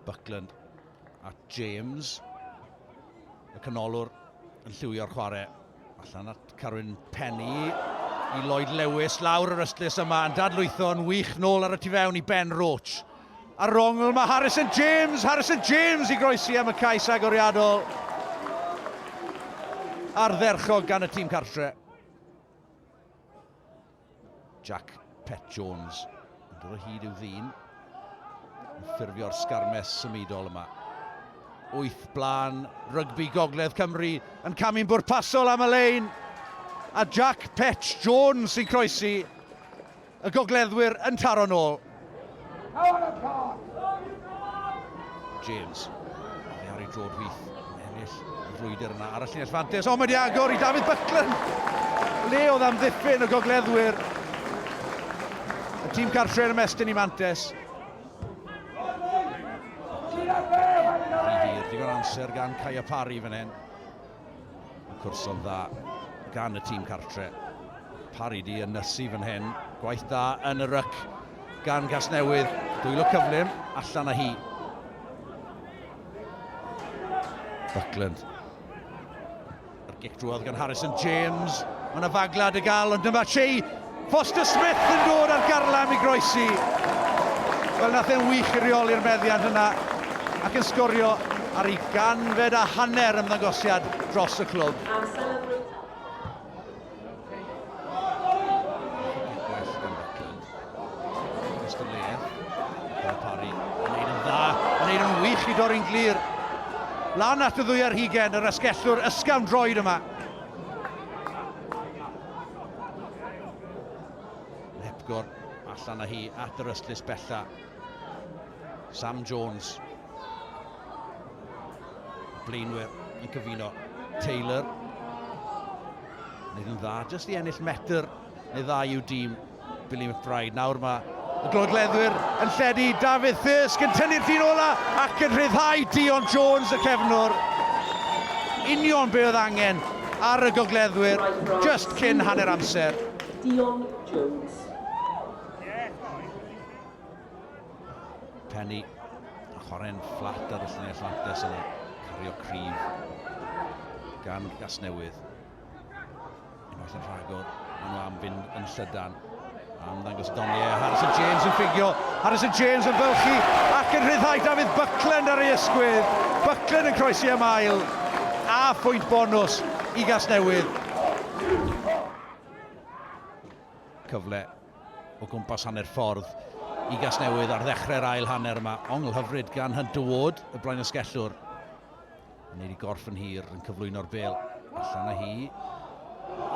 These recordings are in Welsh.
Buckland at James. Y canolwr yn lliwio'r chwarae allan at Carwyn Penny i Lloyd Lewis lawr yr ystlys yma yn dadlwytho yn wych nôl ar y tu fewn i Ben Roach. Ar rongl mae Harrison James, Harrison James i groesi am y cais agoriadol. Ardderchog gan y tîm cartre. Jack Pet Jones yn dod o hyd i'w ddyn. Yn ffurfio'r sgarmes symudol yma. Wyth blaen, rygbi Gogledd Cymru yn camu'n bwrpasol am y lein. A Jack Pet Jones sy'n croesi y gogleddwyr yn taro'n ôl. James. Mae ar ei drod fyth yn ennill y frwydr yna ar y llinell fantes. O, mae di agor i David Buckland. Le oedd am ddiffyn y gogleddwyr. Y tîm cartre yn ymestyn i Mantes. Rhy hir, digon amser gan Kaya Parry fan hyn. Mae cwrson dda gan y tîm cartre. Parry di yn nysu fan hyn. Gwaith dda yn y ryc gan Gasnewydd. Dwylo cyflym, allan â hi. Buckland. Yr gic drwodd gan Harrison James. Mae yna faglad y gal, ond dyma Chi Foster Smith yn dod ar garlam i groesi. Wel, nath e'n wych i reoli'r meddiant yna ac yn sgorio ar ei ganfed a hanner ymddangosiad dros y clwb. Am sylw i dorri'n glir. Lan at y ddwy ar hugen, yr asgellwr ysgafn droed yma. Hepgor allan â hi at yr ystlys bella. Sam Jones. Blaenwyr yn cyfuno. Taylor. Wneud yn dda, jyst i ennill metr neu ddau i'w dîm. Billy McBride. Nawr mae y glodleddwyr yn lledu. Dafydd Thirsk yn tynnu'r llun ola ac yn rhyddhau Dion Jones y cefnwr. Union be oedd angen ar y gogleddwyr just cyn hanner amser. Dion Jones. Penny yn chwarae'n fflat ar y lluniau fflates yna. Cario cryf gan Gasnewydd. Unwaith yn rhagor, maen nhw am fynd yn llydan. Am ddangos Donnie, Harrison James yn ffigio, Harrison James yn fylchu ac yn rhyddhau David Buckland ar ei ysgwydd. Buckland yn croesi am ail a phwynt bonus i Gasnewydd. Cyfle o gwmpas hanner ffordd i Gasnewydd ar ddechrau'r ail hanner yma. Ongl hyfryd gan Hunter Ward, y blaen ysgellwr. Yn ei gorff yn hir yn cyflwyno'r bel. Allan â hi.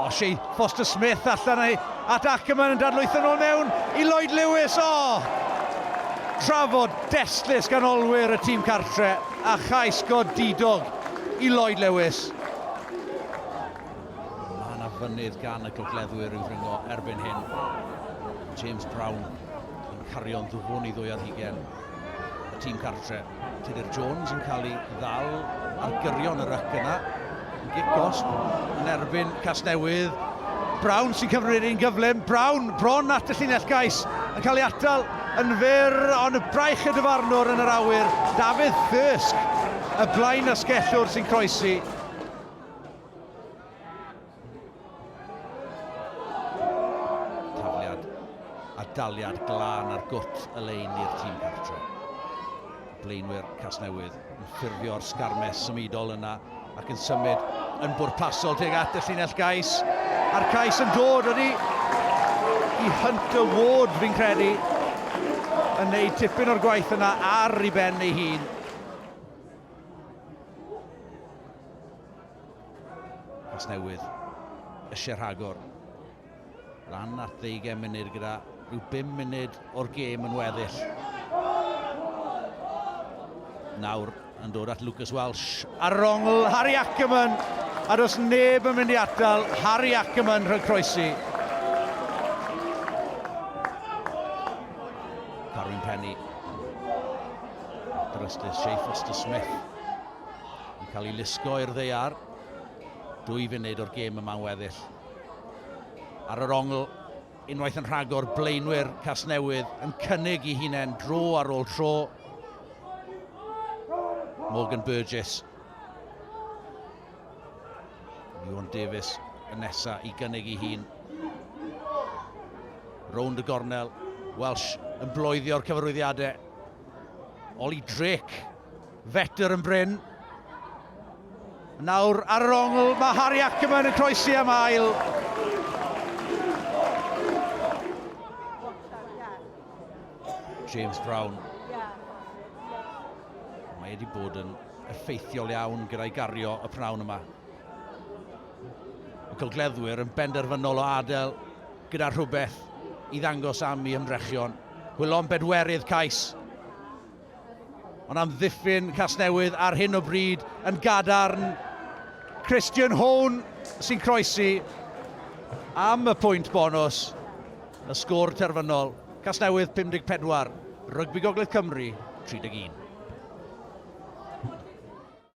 O, Shea Foster Smith allan â hi. At Ackerman yn dadlwytho nôl mewn i Lloyd Lewis. O! Trafod destlus gan olwyr y tîm cartre a chais godidog i Lloyd Lewis. Mae yna fynydd gan y gogleddwyr i'w ddringo erbyn hyn. James Brown yn cario'n ddwfwn i ddwy ar hugen y tîm cartre. Tudur Jones yn cael ei ddal ar gyrion y ryc yna. Gic gosb yn erbyn Casnewydd. Brown sy'n cyfri'r un gyflym. Brown bron at y llinell gais yn cael ei atal yn fyr, ond y braich y dyfarnwr yn yr awyr. Dafydd Thirsk, y blaen asgellwr sy'n croesi. Tafliad a daliad glân ar gwt y lein i'r tîm cartre. Blaenwyr Casnewydd yn ffurfio'r sgarmes symudol yna ac yn symud yn bwrpasol tuag at y llinell gais. A'r cais yn dod ydy i Hunter Ward, fi'n credu, yn neud tipyn o'r gwaith yna ar ei ben ei hun. Casnewydd eisiau rhagor. Lan at ddeugain munud gyda rhyw bum munud o'r gêm yn weddill. Nawr yn dod at Lucas Welsh ar yr ongl, Harry Ackerman, a does neb yn mynd i atal Harry Ackerman rhag croesi. Carwyn Penny, drystus Shea Foster Smith, Yn cael ei lusgo i'r ddeiar. Dwy funud o'r gêm yma yn weddill. Ar yr ongl, unwaith yn rhagor, blaenwyr Casnewydd yn cynnig i hunain dro ar ôl tro. Morgan Burgess. Iwan Davies y nesa i gynnig i hun. Rownd y gornel. Welsh yn bloeddio'r cyfarwyddiadau. Oli Drake Vettor yn brin. Nawr ar yr ongl, mae Harry Ackerman yn croesi am ail. James Brown. Mae wedi bod yn effeithiol iawn gyda'i gario y prawn yma. Y gylgleddwyr yn benderfynol o adael gyda rhywbeth i ddangos am i ymdrechion. Hwylon bedwerydd cais. Ond amddiffyn Casnewydd ar hyn o bryd yn gadarn. Christian Hone sy'n croesi am y pwynt bonus. Y sgôr terfynol, Casnewydd 54, Rygbi Gogledd Cymru 31.